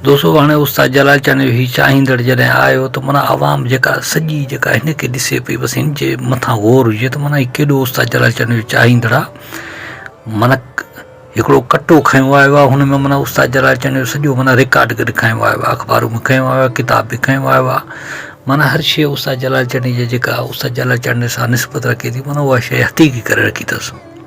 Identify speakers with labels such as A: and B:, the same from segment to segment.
A: دوستو هاڻي استاد جلال چانيو هي چاهيندڙ جڏهن آيو ته منا عوام جيڪا سڄي جيڪا هن کي ڏسي پئي بس هن جي مٿان غور هجي ته منا هي ڪيڏو استاد جلال چانيو چاهيندڙ آ منا هڪڙو ڪٽو کنيو آيو آ هن ۾ منا استاد جلال چانيو سڄو منا ريڪارڊ گڏ کنيو آيو آ اخبارون به کنيو آيو آ ڪتاب به کنيو آيو آ منا هر شيء استاد جلال چانيو جي جيڪا استاد جلال چانيو سان نسبت رکي ٿي منا اها شيء حقيقي ڪري رکي اٿس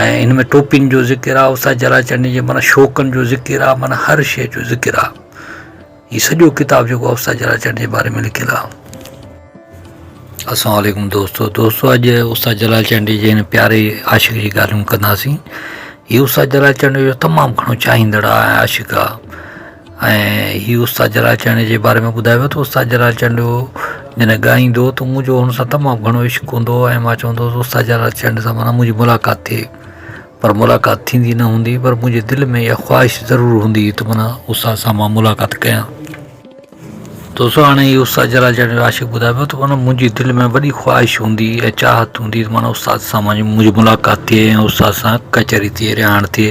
A: ۽ هن ۾ ٽوپين جو ذڪر آهي استاد جلاچنڊي جي معنيٰ شوقن جو ذڪر آهي معنيٰ هر شيء جو ذڪر آهي هي سڄو ڪتاب جيڪو آهي استاد جلاچنڊي جي باري ۾ لکيل آهي السلام عليڪم دوستو دوستو اڄ استاد جلاچنڊي جي هن پياري عاشق جي ڳالهيون ڪنداسين هي استاد جلاچنڊي جو تمام گهڻو چاهيندڙ آهي عاشق آهي ۽ هي استاد جلال چانڊيو جي باري ۾ ٻڌايو ويو ته استاد جلال چانڊيو جڏهن ڳائيندو هو ته منهنجو هن سان تمام گهڻو عشق هوندو هو ۽ مان چوندو هوس استاد جلال چانڊيو سان مانا منهنجي ملاقات ٿئي پر ملاقات ٿيندي نه هوندي پر منهنجي دل ۾ اها خواهش ضرور هوندي هئي ته مانا استاد سان مان ملاقات ڪيان دوستو هاڻي هي استاد جلال چانڊيو جو عاشق ٻڌائي پيو ته مانا منهنجي دل ۾ وڏي خواهش هوندي ۽ چاهت هوندي ته مانا استاد سان منهنجي ملاقات ٿئي ۽ استاد سان ڪچهري ٿئي رهاڻ ٿئي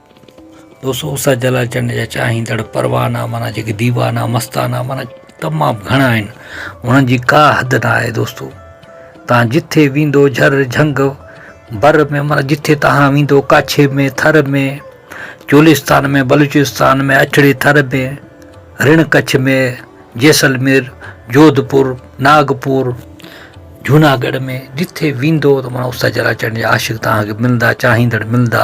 A: دوستو اس جلا چنڊ جا چاهيندڙ پروانا مانا جيڪي ديوانا مستانا مانا تمام گهڻا آهن انهن جي ڪا حد نه آهي دوستو تان جٿي ويندو جھر جھنگ بر ۾ مانا جٿي تان ويندو ڪاڇي ۾ ٿر ۾ چولستان ۾ بلوچستان ۾ اٺڙي ٿر ۾ رڻ ڪڇ ۾ جيسلمير جوڌپور ناگپور جوناگڙھ ۾ جٿي ويندو ته مانا اس جلا چنڊ جا عاشق تان کي ملندا چاهيندڙ ملندا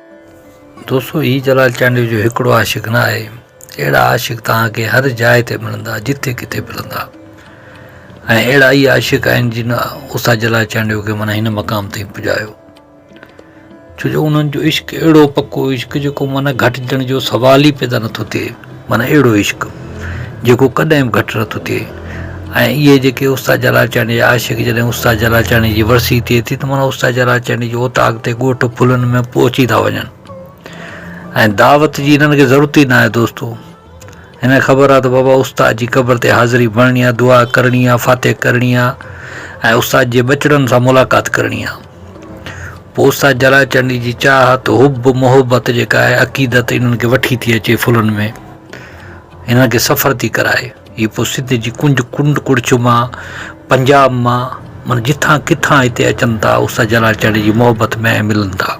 A: دوستو هي جلال چانڊيو جو هڪڙو عاشق نه آهي اهڙا عاشق توهان کي هر جاء تي ملندا جتي ڪٿي ملندا ۽ اهڙا ئي عاشق آهن جن استاد جلال چانڊيو کي معنيٰ هن مقام تائين پڄايو ڇو جو انهن جو عشق اهڙو پڪو عشق جيڪو معنيٰ گهٽجڻ جو سوال ئي پيدا نٿو ٿئي معنيٰ اهڙو عشق جيڪو ڪڏهن به گهٽ نه ٿو ٿئي ۽ اهي جيڪي استاد جلال چانڊيي جا عاشق جڏهن استاد جلال چانڊيي جي ورسي ٿئي ٿي ته معنيٰ استاد جلال چانڊيي جي اوطاق تي ڳوٺ ڦلن ۾ پهچي ٿا وڃن ۽ دعوت جي هنن کي ضرورت ئي ناهي دوستو هنن خبر آهي ته بابا استاد جي قبر تي حاضري بڻڻي آهي دعا ڪرڻي آهي فاتح ڪرڻي آهي ۽ استاد جي ٻچڙن سان ملاقات ڪرڻي آهي پوستا جلا چنڊي جي چاهت، حب، محبت جيڪا آهي عقيدت انهن کي وٺي ٿي اچي ڦلن ۾، انهن کي سفر ٿي ڪرائي. هي پوء سنڌ جي ڪنج ڪنڊ ڪڙڇ مان، پنجاب مان، من جتان ڪٿان هتي اچن ٿا استاد جلال چانڊيو جي محبت ۾ ۽ ملن ٿا.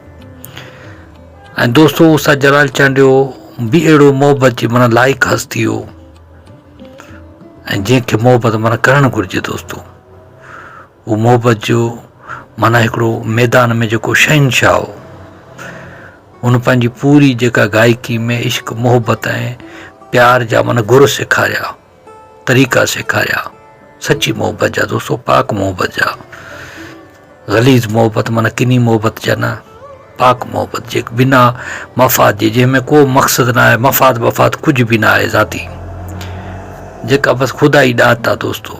A: ۽ دوستو استاد جلال چانڊيو به اهڙو محبت جي من لائق هستي هو ۽ جنهن کي محبت من ڪرڻ گهرجي دوستو. هو محبت جو معنيٰ هڪڙو ميدان ۾ جيڪو شهنشاهه هو. هن پنهنجي پوري جيڪا گائڪي ۾ عشق، محبت ۽ پيار جا من گر سيکاريا، طريقا سيکاريا، سچي محبت جا دوستو، پاڪ محبت جا، غليظ محبت معنيٰ ڪني محبت جا نه، پاڪ محبت جي بنا مفاد جي، جنهن ۾ ڪو مقصد نه آهي، مفاد بفاد ڪجهه به نه آهي ذاتي، جيڪا بس خدا ئي ڏات آ دوستو.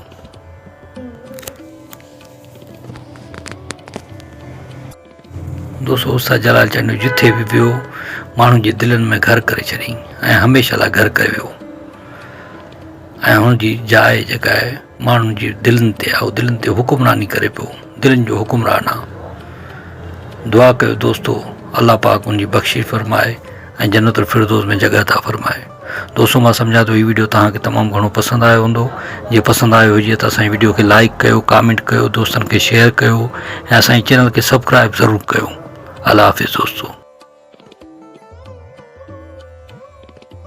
A: دوستو استاد جلال چانڊيو جتي به ويو ماڻهن جي دلن ۾ گهر ڪري ڇڏيائين ۽ هميشه لاء گهر ڪري ويو ۽ هن جي جاء جيڪا آهي ماڻهن جي دلن تي آهي دلن تي حڪمراني ڪري پيو دلن جو حڪمران آهي دعا ڪيو دوستو الله پاڪ ان جي بخشش فرمائي ۽ جنت الفردوس ۾ جڳهه عطا فرمائي. دوستو مان سمجهان ٿو هي وڊيو توهان کي تمام گهڻو پسند آيو هوندو جي پسند آيو هجي ته اسان جي وڊيو کي لائيڪ ڪيو ڪامينٽ ڪيو دوستن کي شيئر ڪيو ۽ اسان جي چينل کي سبڪرائيب ضرور ڪيو الله حافظ دوستو.